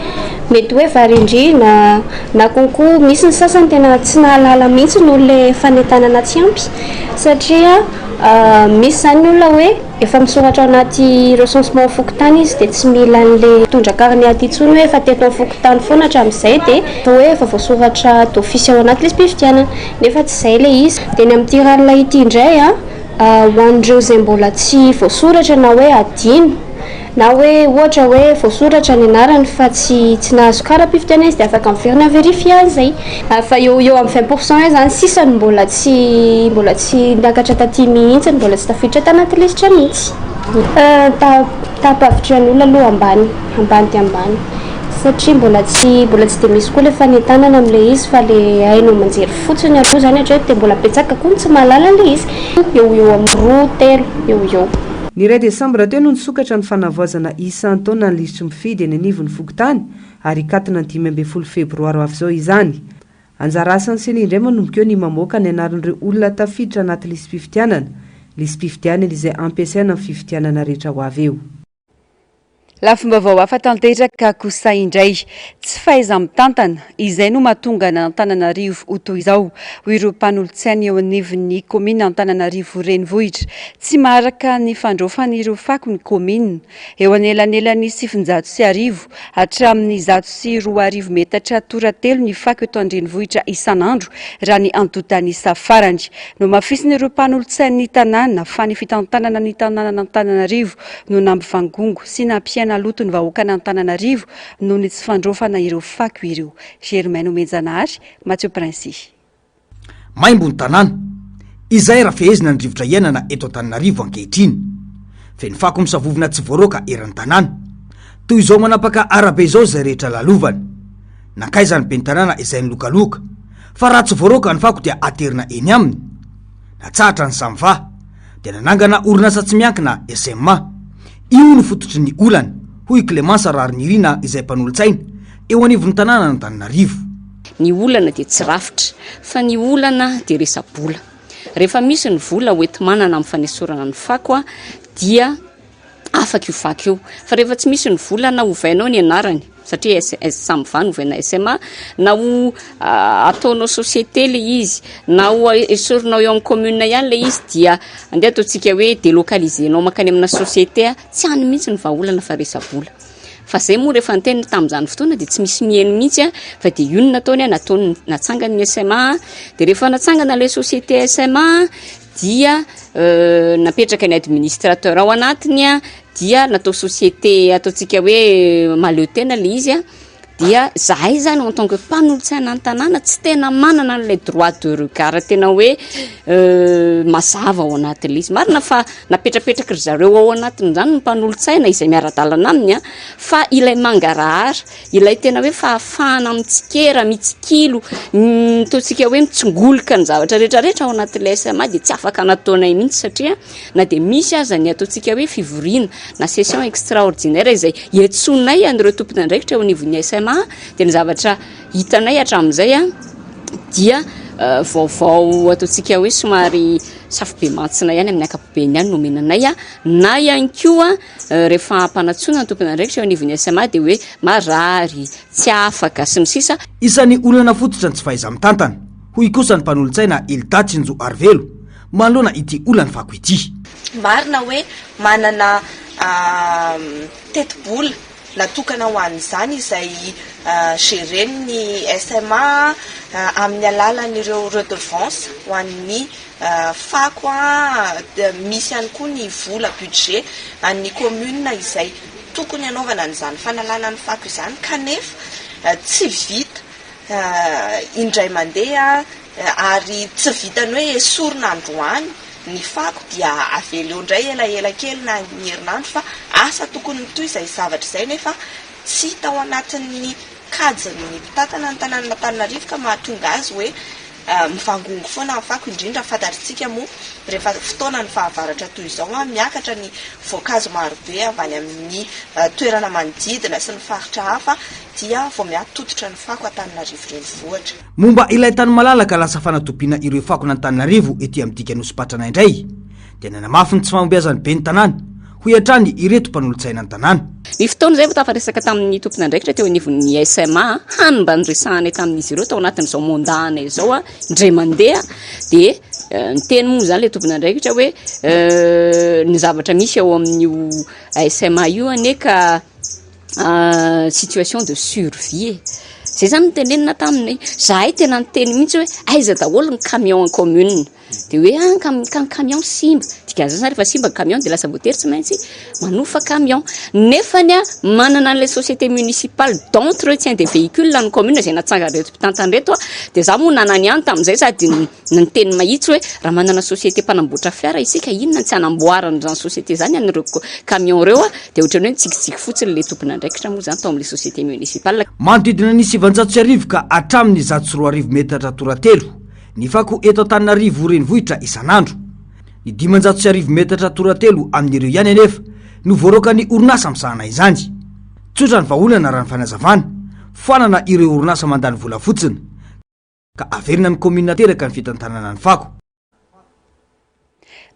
mety hoe varendrehina na konko misy ny sasany tena tsy nahalala mihitsy noho ilay fanentanana tsy ampy satria misy izany ny olona hoe efa misoratra ao anaty recensement fokontany izy dia tsy mila an'ilay mitondra carnet aty intsony hoe efa teto amin'ny fokontany foana hatramin'izay dia atao hoe efa voasoratra d'office ao anaty lisi-pifidianana nefa tsy izay ilay izy dia ny amin'ity ranoray ity indray a Ho an'ireo izay mbola tsy voasoratra na hoe adino, na hoe ohatra hoe voasoratra ny anarany fa tsy tsy nahazo kara-pifidianana izy dia afaka miverina mi-verifier an'izay. Fa eo ho eo amin'ny vingt pour cent eo izany sisa no mbola tsy mbola tsy niakatra taty mihitsy, ny mbola tsy tafiditra tanaty lisitra mihitsy. Ny taha-pahavitrihan'ny olona aloha ambany, ambany dia ambany. satria mbola tsy mbola tsy dia misy koa ilay fanentanana amin'ilay izy fa ilay haino aman-jery fotsiny aloha izany hatreto dia mbola betsaka koa ny tsy mahalala an'ilay izy, eo ho eo amin'ny roa, telo eo ho eo. Ny iray desambra teo no nisokatra ny fanavaozana isan-taona ny lisitry mpifidy eny anivon'ny fokontany ary hikatona ny dimy ambin'ny folo febroary ho avy izao izany. Anjara asan'ny ceni indray manomboka eo ny mamoaka ny anaran'ireo olona tafiditra anaty lisi-pifidianana, lisi-pifidianana izay hampiasaina amin'ny fifidianana rehetra ho avy eo. Lafim-baovao hafa tanteraka kosa indray, tsy fahaiza-mitantana, izay no mahatonga an'Antananarivo ho toy izao, hoy ireo mpanolotsaina eo anivon'ny kaominina Antananarivo Renivohitra. Tsy maharaka ny fandraofan'ireo fako ny kaominina. Eo anelanelan'ny sivinjato sy arivo hatramin'ny zato sy roa arivo metatra tora-telo ny fako eto an-drenivohitra isan'andro, raha ny antontan'isa farany. Nohamafisin'ireo mpanolotsain'ny tanàna fa ny fitantanana ny tanànan'Antananarivo no nampivangongo sy nampiaina loto ny vahoakan'Antananarivo noho ny tsy fandraofana ireo fako ireo. Germain Nomenjanahary, Mathieu Princy. Maimbo ny tanàna, izay rafehezina ny rivotra iainana eto Antananarivo ankehitriny. Feno fako misavovona tsy voaroaka eran'ny tanàna. Toy izao manapaka arabe izao izay rehetra lalovana. Nankaiza ny ben'ny tanàna izay nilokaloka, fa raha tsy voaroaka ny fako dia aterina eny aminy? Natsahatra ny samva. dia nanangana orinasa tsy miankina, SMA. Io no fototry ny olany, hoy i Clémence Raharinirina izay mpanolotsaina eo anivon'ny tanànan'Antananarivo. Ny olana dia tsy rafitra, fa ny olana dia resa-bola. Rehefa misy ny vola hoenti-manana amin'ny fanesorana ny fako dia. afaka io vaky io fa rehefa tsy misy ny vola na ovainao ny anarany satria samy va ny ovaina sma na ho ah, ataonao société le izy na ho esorinao eo amin'ny commune ihany le izy dia andeha ataontsika hoe délocalisenao makany amina société a tsy any mihitsy ny vahaolana fa resa-bola fa zay moa rehefa niteny tamin'izany fotoana dia tsy misy miheno mihitsy a fa dia io no nataony a nataony natsangany ny sma dia rehefa natsangana ilay société sma dia napetraka ny administrateur ao anatiny a, dia natao société ataontsika hoe mahaleo tena ilay izy a, dia zahay izany en tant que mpanolotsaina ny tanàna tsy tena manana an'ilay droit de regard tena hoe mazava ao anatin'ilay izy, marina fa napetrapetraky ry zareo ao anatin'izany ny mpanolotsaina izay miara-dalana aminy a, fa ilay mangarahara Ilay tena hoe fahafahana mitsikera, mitsikilo, ataontsika hoe mitsingoloka ny zavatra rehetrarehetra ao anatin'ilay SMA dia tsy afaka nataonay mihitsy satria na dia misy aza ny ataontsika hoe fivoriana na session extraordinaire izay iantsoanay an'ireo tompon'andraikitra eo anivon'ny SMA dia ny zavatra hitanay hatramin'izay a dia euh, vaovao ataontsika hoe somary safobe mantsina ihany amin'ny ankapobeny ihany nomenanay a na ihany koa Rehefa hampanatsoina ny tompon'andraikitra eo anivon'ny SMA dia hoe marary, tsy afaka, sy ny sisa. Isan'ny olana fototra ny tsy fahaiza-mitantana, hoy kosa ny mpanolotsaina Hilda Tsinjoarivelo, manoloana ity olan'ny fako ity. Marina hoe manana tetibola Natokana ho an'izany izay geren'ny SMA amin'ny alalan'ireo redevances ho an'ny fako. Misy ihany koa ny vola, budget, an'ny commune izay tokony hanaovana an'izany fanalana ny fako izany kanefa tsy vita indray mandeha ary tsy vitan'ny hoe esorina androany. Ny fako dia avela eo indray elaela kely na ny herinandro fa asa tokony mitohy izay zavatra izay nefa tsy tao anatin'ny kajin'ny mpitantana ny tanànan'Antananarivo ka mahatonga azy hoe mivangongo foana ny fako indrindra fantatritsika moa rehefa fotoanan'ny fahavaratra toy izao miakatra ny voankazo marobe avy any amin'ny toerana manodidina sy ny faritra hafa dia vao miha-tototra ny fako Antananarivo renivohitra. Momba ilay tany malalaka lasa fanatobiana ireo fakon' Antananarivo ety amin'ny dika Nosipatrana indray dia nanamafy ny tsy fahombiazan'ny ben'ny tanàna, hoy hatrany ireto mpanolotsaina ny tanàna. Ny fotoana izay vao tafaresaka tamin'ny tompon'andraikitra teo anivon'ny SMA hany mba niresahanay tamin'izy ireo tao anatin'izao mandat-nay izao indray mandeha dia niteny moa izany ilay tompon'andraikitra hoe ny zavatra misy ao amin'io SMA io anie ka situation de survie e! Zay zany no tenenina taminy, zahay tena niteny mihintsy hoe aiza daholo ny camion en commune? de hoe an ka ny camion simba, dikan'izany zany rehefa simba ny camion de lasa voatery tsy maintsy manofa camion, nefany an manana an'ilay société municipale d'entre tiens de véhicule ny commune izay natsangan'ireto mpitantana ireto an, de za moa nanana ihany tamin'izay sady ny. Ny niteny mahitsy hoe raha manana société mpanamboatra fiara isika inona ny tsy hanamboarany izany société izany an'ireo camion ireo dia ohatran'ny hoe nitsikitsiky fotsiny ilay tompon'andraikitra moa izany tao amin'ilay société municipal Manodidina ny sivanjato sy arivo ka hatramin'ny zato sy roa arivo metatra toratelo ny fako eto Antananarivo renivohitra isan'andro. Ny dimanjato sy arivo metatra toratelo amin'ireo ihany anefa no voaroakan'ny orinasa misahana izany. Tsotra ny vahaolana raha ny fanazavana, foanana ireo orinasa mandany vola fotsiny, ka averina ny commune teraka ny fitantanana ny fako.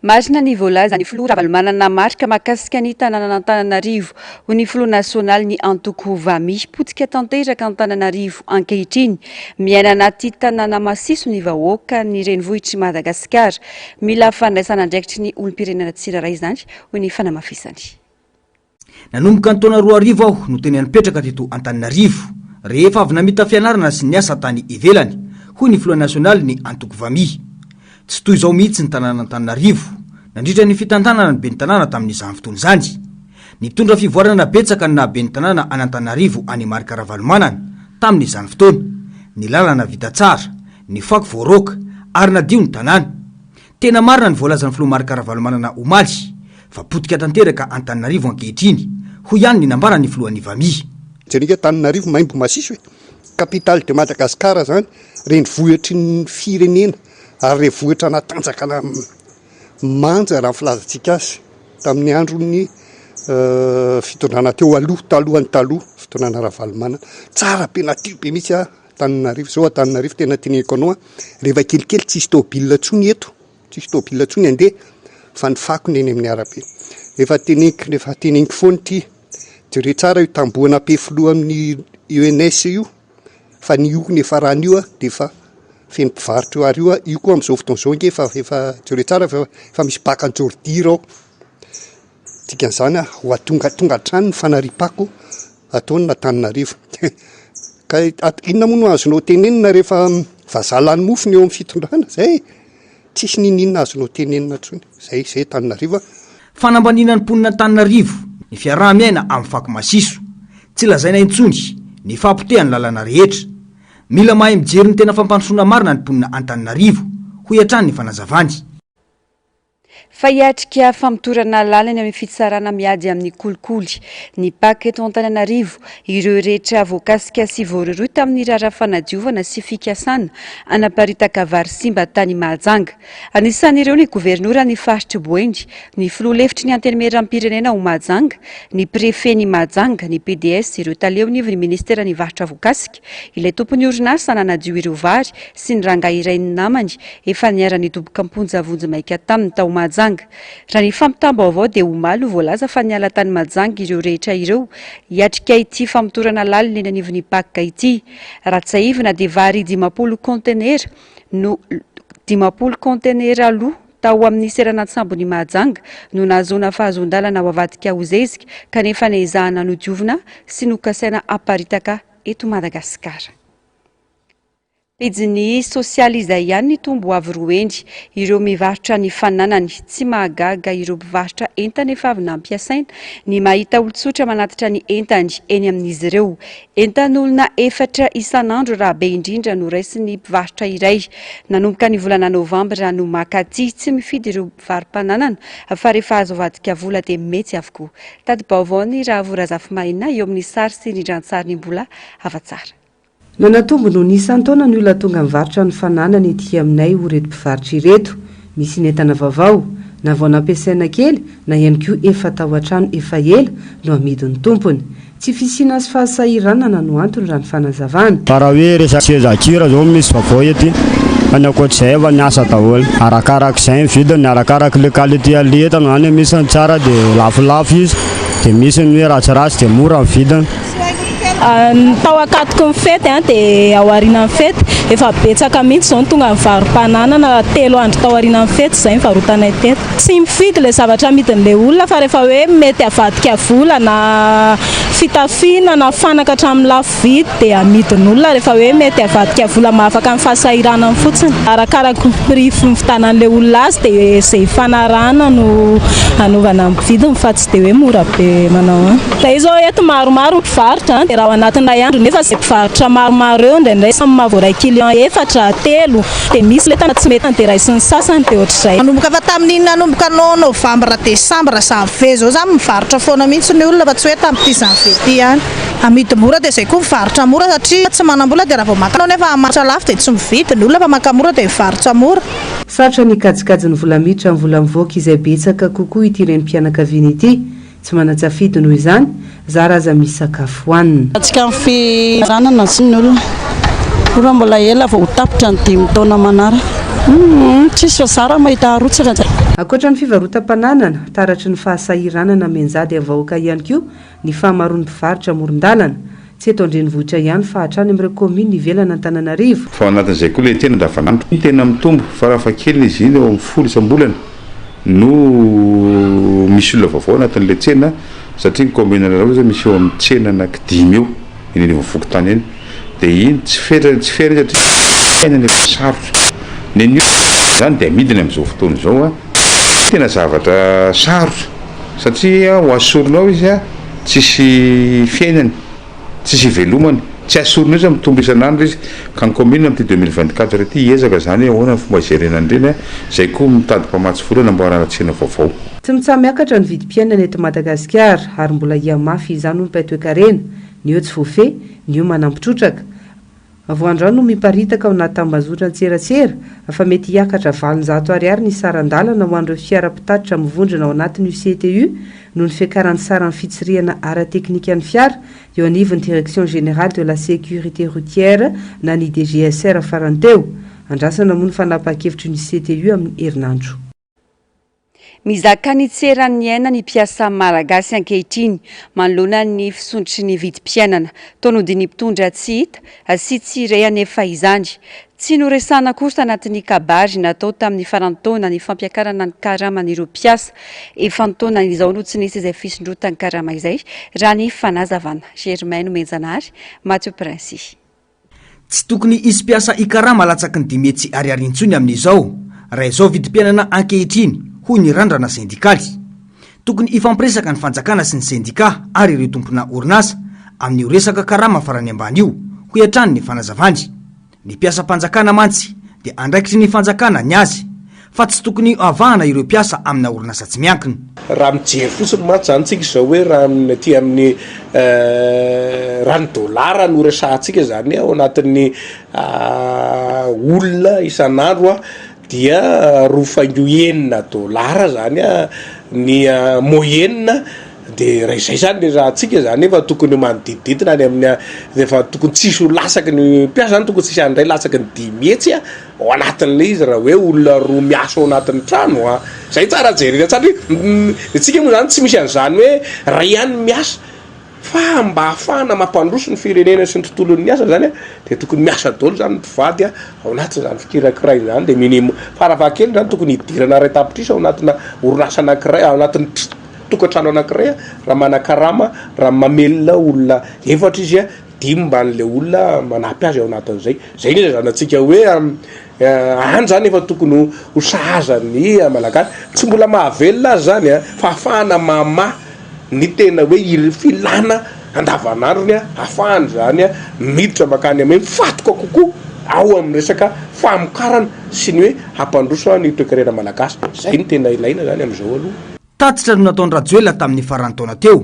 Marina ny voalazan'ny filoha Ravalomanana Marc mahakasika ny tanànan'Antananarivo. Hoy ny filoha nasionaly ny antoko Vami, potika tanteraka Antananarivo ankehitriny. Miaina anaty tanàna masiso ny vahoaka ny renivohitr'i Madagasikara. Mila fandraisan'andraikitry ny olom-pirenena tsirairay izany, hoy ny fanamafisany. Nanomboka ny taona roa arivo aho no tena nipetraka teto Antananarivo, rehefa avy namita fianarana sy niasa tany ivelany, hoy ny filoha nasionalin'ny antoko Vami. Tsy toy izao mihitsy ny tanàn'Antananarivo, nandritra ny fitantanana ny ben'ny tanàna tamin'izany fotoana izany. Nitondra fivoarana betsaka ny naha ben'ny tanàna an'Antananarivo an'i Marc Ravalomanana, tamin'izany fotoana. Ny lalana vita tsara, ny fako voaroaka, ary nadio ny tanàna. Tena marina ny voalazan'ny filoha Marc Ravalomanana omaly, fa potika tanteraka Antananarivo ankehitriny, hoy ihany ny nambaran'ny filohan'ny Vami. Jereo ange Antananarivo maimbo masiso e! Capitale de Madagascar zany, renivohitry ny firenena ary renivohitra natanjaka manja raha ny filazantsika azy tamin'ny andron'ny fitondrana teo aloha, talohan'ny taloha, fitondrana Ravalomanana. Tsara be, nadio be mihitsy Antananarivo, zao Antananarivo tena teneniko anao an, rehefa kelikely tsisy tôbila intsony eto, tsisy tôbila intsony handeha fa ny fako ny eny amin'ny arabe. Efa teneniko, efa teneniko foana ity, jereo tsara io tamboho an'Ampe filoha amin'ny ENS io, fa ny io efa rà an'io an, dia efa feno mpivarotra io, ary io an, io koa amin'izao fotoana izao ange efa, efa, jereo tsara fa efa misy baka an'i Jordira ao. Dikan'izany ho atongatonga hatrany ny fanariam-pako ataon'Antananarivo. Ka inona moa no azonao tenenina rehefa vazaha lany mofo ny eo amin'ny fitondrana? Izay e! Tsisy n'inon'inona azonao tenenina intsony. Izay, izay Antananarivo a! Fanambaniana ny mponin'Antananarivo ny fiaraha-miaina amin'ny fako masiso. Tsy lazaina intsony ny fahapotehan'ny lalana rehetra. Mila mahay mijery ny tena fampandrosoana marina ny mponina Antananarivo, hoy hatrany ny fanazavany. Fa hiatrika famotorana lalina eo amin'ny fitsarana miady amin'ny kolikoly ny Pac eto Antananarivo ireo rehetra voakasika sy voarohirohy tamin'ny raharaha fanadiovana sy fikasana hanaparitaka vary simba tany Mahajanga. Anisan'ireo ny governoran'ny faritr'i Boeny, ny filoha lefitry ny Antenimierampirenena ao Mahajanga, ny prefen'i Mahajanga, ny PDS, ireo taleonivon'ny ministeran'ny varotra voakasika, Ilay tompon'ny orinasa nanadio ireo vary sy ny rangahy iray ny namany efa niara-nidoboka am-ponja vonjimaika taminy tao Mahajanga. Raha ny fampitam-baovao dia omaly no voalaza fa niala tany Mahajanga ireo rehetra ireo hiatrika ity famotorana lalina eny anivon'ny Pac ity. Raha tsiahivina dia vary dimampolo kaontenera no dimampolo kaontenera aloha. Tao amin'ny seranan-tsambon'i Mahajanga no nahazoana fahazoan-dalana ho avadika ho zezika kanefa nezahana nodiovina sy nokasaina haparitaka eto Madagasikara. Pejiny sosialy izay ihany nitombo avo roa heny ireo mivarotra ny fananany. Tsy mahagaga ireo mpivarotra entana efa avy nampiasaina ny mahita olon-tsotra manatitra ny entany eny amin'izy ireo. Entan'olona efatra isan'andro raha be indrindra no raisin'ny mpivarotra iray. Nanomboka ny volana novambra no maka aty tsy mifidy ireo mpivaro-pananana fa rehefa azo avadika vola dia mety avokoa. Tati-baovaon'i Rahavoa Razafimahaina eo amin'ny sary sy rindran-tsary ny mbola hafa-tsara. Nanatombo noho ny isan-taona ny olona tonga mivarotra ny fananany ety aminay hoy ireto mpivarotra ireto. Misy ny entana vaovao, na vao nampiasaina kely na ihany koa efa tao an-trano efa ela no amidin'ny tompony. Tsy fisiana sy fahasahiranana no antony raha ny fanazavana. Fa raha hoe resaka seza kira zao misy vaovao ety fa ny ankoatr'izay efa niasa daholo. Arakarak'izay ny vidiny, arakaraka le qualité an'le entana zany, misy ny tsara de lafolafo izy de misy ny hoe ratsiratsy de mora ny vidiny. Ny tao ankatoky ny fety dia ao aorianan'ny fety, efa betsaka mihitsy izao ny tonga nivarom-pananana, telo andro tao aorianan'ny fety izay nivarotanay teto. Tsy mifidy ilay zavatra amidin'ilay olona fa rehefa hoe mety avadika vola na fitafiana na fanaka hatramin'ny lafo vidy dia amidin'olona rehefa hoe mety avadika vola mba afaka ny fahasahiranany fotsiny. Arakaraka ny prix fividianan'ilay olona azy dia izay ifanarahana no anaovana ny vidiny fa tsy dia hoe mora be manao ahoana. Izahay izao eto maromaro ny mpivarotra dia raha ao anatin'ny iray andro nefa izay mpivarotra maromaro eo indraindray samy maha voaray client efatra, telo Dia misy ilay tana tsy mety tany dia raisin'ny sasany dia ohatr'izay. Manomboka fa tamin'iny nanomboka no novambra desambra janvier zao zany mivarotra foana mihitsy ny olona fa tsy hoe tamin'ity janvier ity ihany. Amidy mora dia zay koa mivarotra mora satria tsy manambola dia raha vao maka anao nefa hamarotra lafo dia tsy mividy ny olona fa maka mora dia mivarotra mora. Sarotra ny kajikajin'ny vola miditra amin'ny vola mivoaka izay betsaka kokoa ity renim-pianakaviana ity Tsy manan-tsafidy noho izany, zara aza misy sakafo hohanina. Antsika ny fihinanana sy ny olona. Ora mbola ela vao ho tapitra ny dimy taona manaraka. Humm tsisy fa zara mahita harotsaka zay. Ankoatra ny fivarotam-pananana, taratry ny fahasahiranana mianjady amin'ny vahoaka ihany koa ny fahamaroan'ny mpivarotra amoron-dalana. Tsy eto an-drenivohitra ihany fa hatrany amin'ireo kaominina ivelan' Antananarivo. Fa ao anatin'izay koa ilay tena andavanandro no tena mitombo, farafahakeliny izy iny eo amin'ny folo isam-bolana no misy olona vaovao anatin'ilay tsena satria ny kaominina iray ohatra izao misy eo amin'ny tsena anaky dimy eo eny anivon'ny fokontany eny dia iny tsy fera tsy fera iny satria tena ny efa sarotra ny anio izany dia amidiny amin'izao fotoana izao a tena zavatra sarotra. Satria ho asoriny ao izy, tsisy fiainany, tsisy ivelomany. Tsy asoriny mihitsy fa mitombo isan'andro izy. Ka ny kaominina amin'ity deux mille vingt quatre ity hiezaka izany hoe ahoana ny fomba hijerena an'ireny. Izay koa mitady mpamatsy vola hanamboarana tsena vaovao. Tsy mitsaha-miakatra ny vidim-piainana eto Madagasikara ary mbola hihamafy izany hoy Mpay Toekarena, ny eo tsy voafehy, ny eo manampi-trotraka. Avoandrano no miparitaka ao anaty tambazotran-tserasera fa mety hiakatra valonjato ariary ny saran-dalana ho an'ireo fiara mpitatitra mivondrona ao anatin'io CTU noho ny fiakaran'ny saran'ny fitsirihana ara-teknikan'ny fiara eo anivon'ny Direction Générale de la Sécurité Routière na ny DGSR farany teo. Andrasana moa ny fanapahan-kevitry ny CTU amin'ny herinandro. Mizaka ny tsy eran'ny aina ny mpiasa Malagasy ankehitriny manoloana ny fisondrotry ny vidim-piainana. Tonodin'ny mpitondra tsy hita sy tsy re anefa izany. Tsy noresahana akory tanatin'ny kabary natao tamin'ny faran'ny taona ny fampiakarana ny karaman'ireo mpiasa. Efa-taona izao no tsy nisy izay fisondrotan-karama izay, raha ny fanazavana. Germain Nomenjanahary, Matio Prince. Tsy tokony hisy mpiasa hikarama latsaky ny dimy hetsy ariary intsony amin'izao, raha izao vidim-piainana ankehitriny, hoy ny Randrana Sendikaly. Tokony hifampiresaka ny fanjakana sy ny sendikà ary ireo tompona orinasa, amin'io resaka karama farany ambany io, hoy hatrany ny fanazavany. Ny mpiasam-panjakana mantsy dia andraikitry ny fanjakana ny azy. fa tsy tokony avahana ireo mpiasa amina orinasa tsy miankina. Raha mijery fotsiny mantsy izany tsika izao hoe raha ny aty amin'ny raha ny dolara no resahantsika izany ao anatin'ny olona isan'andro dia roa faingo enina dolara izany ny moyenne. Dia raha izay izany ilay ratsika izany efa tokony manodidididina any amin'ny dia efa tokony tsy hisy ho lasaky ny mpiasa izany tokony tsy hisy any indray lasaky ny dimy hetsy a ao anatin'ilay izy raha hoe olona roa miasa ao anatin'ny trano a izay no tsara jerena satria ny antsika moa izany tsy misy an'izany hoe iray ihany no miasa fa mba hahafahana mampandroso ny firenena sy ny tontolon'ny asa izany a dia tokony miasa daholo izany ny mpivady a ao anatin'izany fikirakiraina izany dia minimum farafahakeliny izany tokony hidirana iray tapitrisa ao anatina orinasa anankiray ao anatin'ny tokantrano anankiray raha manakarama raha mamelona olona efatra izy a dimy mban'la olona manampy azy ao anatin'izay zay ny ilazanantsika hoe any zany efa tokony ho ho sahaza ny malagasy tsy mbola mahavelona azy zany a fahafahana mama ny tena hoe iry filana andavanandrony a afahany zany a miditra makany ame fatoka kokoa ao amin'ny resaka famokarana sy ny hoe hampandroso any toekarena malagasy zay ny tena ilaina zany am'izao aloha Tatitra no nataon-dRajoelina tamin'ny faran'ny taona teo,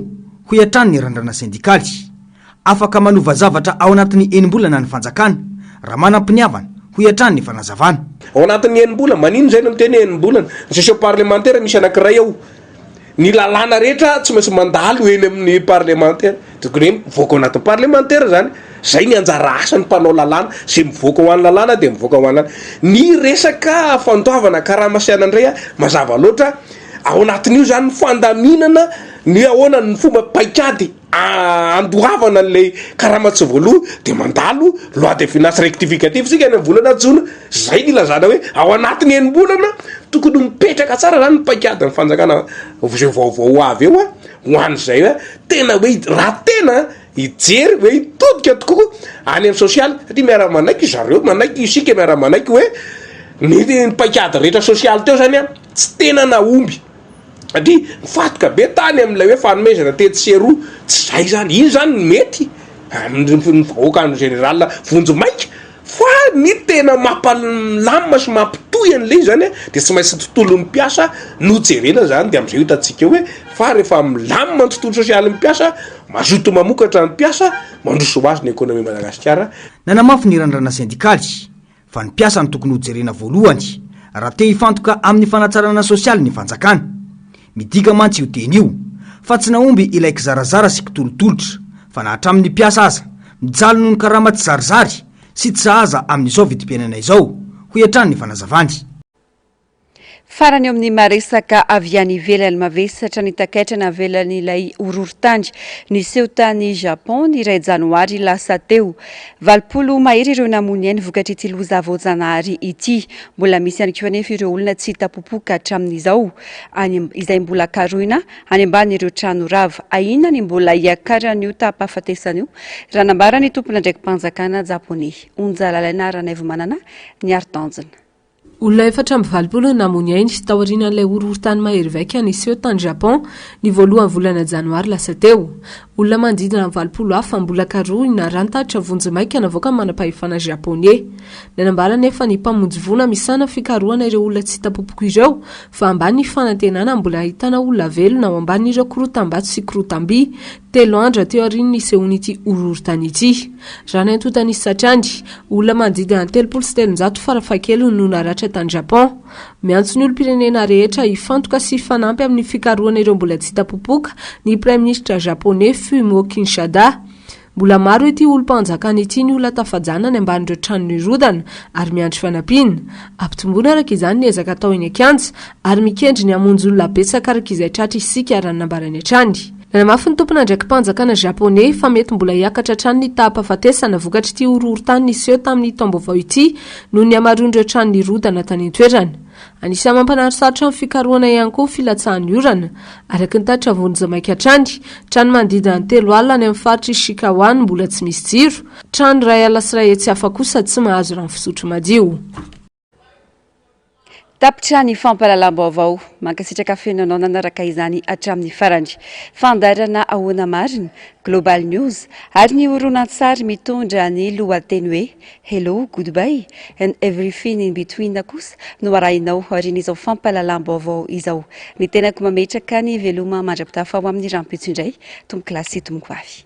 hoy hatrany ny Randrana Sendikaly. Afaka manova zavatra ao anatin'ny enim-bolana ny fanjakana, raha manam-piniavana, hoy hatrany ny fanazavana. Ao anatin'ny enim-bolana, maninona izay no miteny hoe enim-bolana? Ny session parlemantera misy anankiray ao. Ny lalàna rehetra tsy maintsy mandalo eny amin'ny parlemantera. Tokony hoe mivoaka ao anatin'ny parlemantera izany, izay ny anjara asan'ny mpanao lalàna, izay mivoaka ho an'ny lalàna dia mivoaka ho an'any. Ny resaka fandoavana karama sy anona indray an, mazava loatra, ao anatin'io izany ny fandaminana ny hoe ahoana ny fomba paikady handoavana an'ilay karama tsy voaloa, dia mandalo loi de finance rectificative isika any amin'ny volana jona, izay ny ilazana hoe ao anatin'ny enim-bolana tokony mipetraka tsara izany ny paikadin'ny fanjakana izay vaovao ho avy eo an. Ho an'izay hoe tena hoe raha tena hijery hoe hitodika tokoa any amin'ny sosialy satria miara-manaiky ry zareo, manaiky isika miara-manaiky hoe ny paikady rehetra sosialy teo izany a, tsy tena nahomby satria nifantoka be tany amin'ilay hoe fanomezana tetsy sy eroa, tsy izay izany, iny izany no mety amin'ny vahoaka en général vonjimaika. Fa ny tena mampalamina sy mampitohy an'ilay izy izany dia tsy maintsy ny tontolon'ny mpiasa no jerena izany dia amin'izay hitantsika hoe fa rehefa milamina ny tontolo sosialin'ny mpiasa, mazoto mamokatra ny mpiasa, mandroso ho azy ny ekonomian'i Madagasikara. Nanamafy ny Randrana Sendikaly fa ny mpiasa no tokony hojerena voalohany raha te hifantoka amin'ny fanatsarana sosialy ny fanjakana. Midika mantsy io teny io fa tsy nahomby ilay kizarazara sy kitolotolotra, fa na hatramin'ny mpiasa aza, mijaly noho ny karama tsizarizary sy tsy sahaza amin'izao vidim-piainana izao, hoy hatrany ny fanazavany. Farany eo amin'ny maha-resaka avy any ivelany, mavesatra ny takaitra navelan'ilay horohorontany niseho tany Japon ny iray janoary lasa teo. Valopolo mahery ireo namoy ainy vokatr'ity loza voajanahary ity. Mbola misy ihany koa anefa ireo olona tsy hita popoka hatramin'izao. any izay mbola karohina any ambanin'ireo trano rava. Ahiana ny mbola hiakaran'io taham-pahafatesana io, raha nambara ny tompon'andraiki-panjakana Japoney, Onja Lalaina Ranaivomanana, ny harin-tanjona. Olona efatra amby valopolo no namoa ny ainy, taorian'ilay horohorontany mahery vaika niseho tany Japon, ny voalohan'ny volana janoary lasa teo. Olona manodidina ny valopolo hafa mbola karohina raha ny tatitra vonjimaika navoakan'ny manampahefana Japoney. Nanambara anefa ny mpamonjy voina misahana fikarohana ireo olona tsy hita popoka ireo fa ambany ny fanantenana mbola hahitana olona velona ao ambanin'ireo korotam-bato sy korotam-by telo andra teo aorian'ny nisehoan'ity horohorontany ity. Raha ny antontan'isa hatrany, olona manodidina ny telopolo sy telonjato farafahakeliny no naratra tany Japon. Miantso ny olom-pirenena rehetra hifantoka sy hifanampy amin'ny fikarohana ireo mbola tsy hita popoka ny Praiminisitra Japoney Fumio Kishada. Mbola maro ity olom-panjakana ity ny olona tafajana any ambanin'ireo trano nirodana ary miandry fanampiana. Ampitomboina araka izany ny ezaka atao eny an-kianja ary mikendry ny hamonjy olona betsaka araka izay tratra isika raha ny nambarany hatrany. Nanamafy ny tompon'andraiki-panjakana Japoney fa mety mbola hiakatra hatrany ny taham-pahafatesana vokatr'ity horohorontany niseho tamin'ny taom-baovao ity noho ny hamaroan'ireo trano nirodana tany an-toerana. Anisan'ny mampanary sarotra ny fikarohana ihany koa ny filatsahan'ny orana. Araka ny tatitra vonjy maika hatrany, trano manodidina ny telo alina any amin'ny faritra Ishikawa no mbola tsy misy jiro, trano iray ala sy iray hetsy hafa kosa tsy mahazo rano fisotro madio. Tapitra ny fampahalalam-baovao. Mankasitraka feno anao nanaraka izany hatramin'ny farany. Fandairana ahoana marina? Global News ary ny horonantsary mitondra ny lohateny hoe Hello, Goodbye and Everything in Between kosa no arahinao aorian'izao fampahalalam-baovao izao. Ny tenako mametraka ny veloma mandra-pitafy ao amin'ny rahampitso indray, tompokolahy sy tompokovavy.